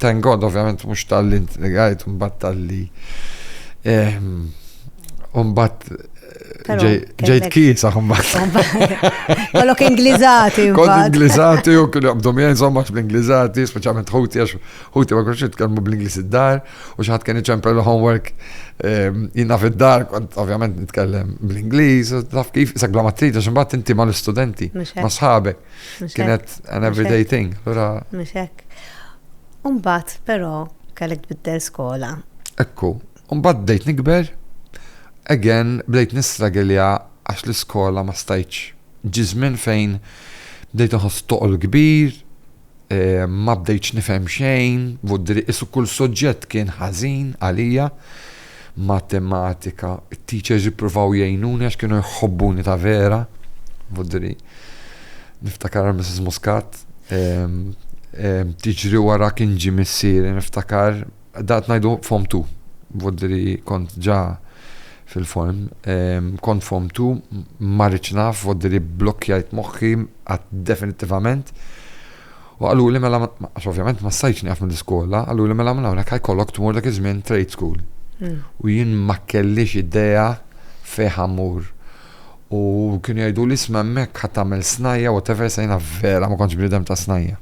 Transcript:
Thank God ovvjament mhux talli intrigajt mbagħad talli mbagħad ġejt kisa mbagħad. Kollok Ingliżati. Kont Ingliżati u kienu jaqbdu miegħi insomma bl-Ingliżati, speċjalment ħuti għax ħuti ma kienx jitkellmu bl-Ingliż id-dar u xi ħadd kien iċempel homework jina fid-dar kont ovvjament nitkellem bl-Ingliż, taf kif sak bla ma trid għax imbagħad inti mal-istudenti, ma' sħabek. Kienet an everyday thing. Mhux hekk. U mbagħad, però, kellek tbiddel skola. Ekku. U mbagħad bdejt nikber, again, bdejt nistragilja għax l-iskola ma stajtx. Ġie żmien fejn bdejt inħoss toqol kbir, ma bdejtx nifhem xejn, qisu kull suġġett kien ħażin għalija. Matematika, it-teachers ippruvaw jgħinuni għax kienu jħobbuni ta' vera. Vudri. Niftakar għal Mrs. Muscat. Tiġri wara kien ġi missieri, niftakar. Dat ngħidu form 2. Vudri kont ġa fil-form. Kont form 2, ma rridx naf, vudri blokkjajt moħħi għad definittivament. U qaluli mela għax ovvjament ma stajtx nieqaf mill-iskola, qaluli mela minn hawnhekk ħa jkollok tmur dak iż-żmien trade school. U jien ma kellix idea fejn ħa mmur. U kienu jgħiduli isma' hemmhekk ħa tagħmel snajja' whatever issa jiena vera ma kontx bniedem ta' snajja'.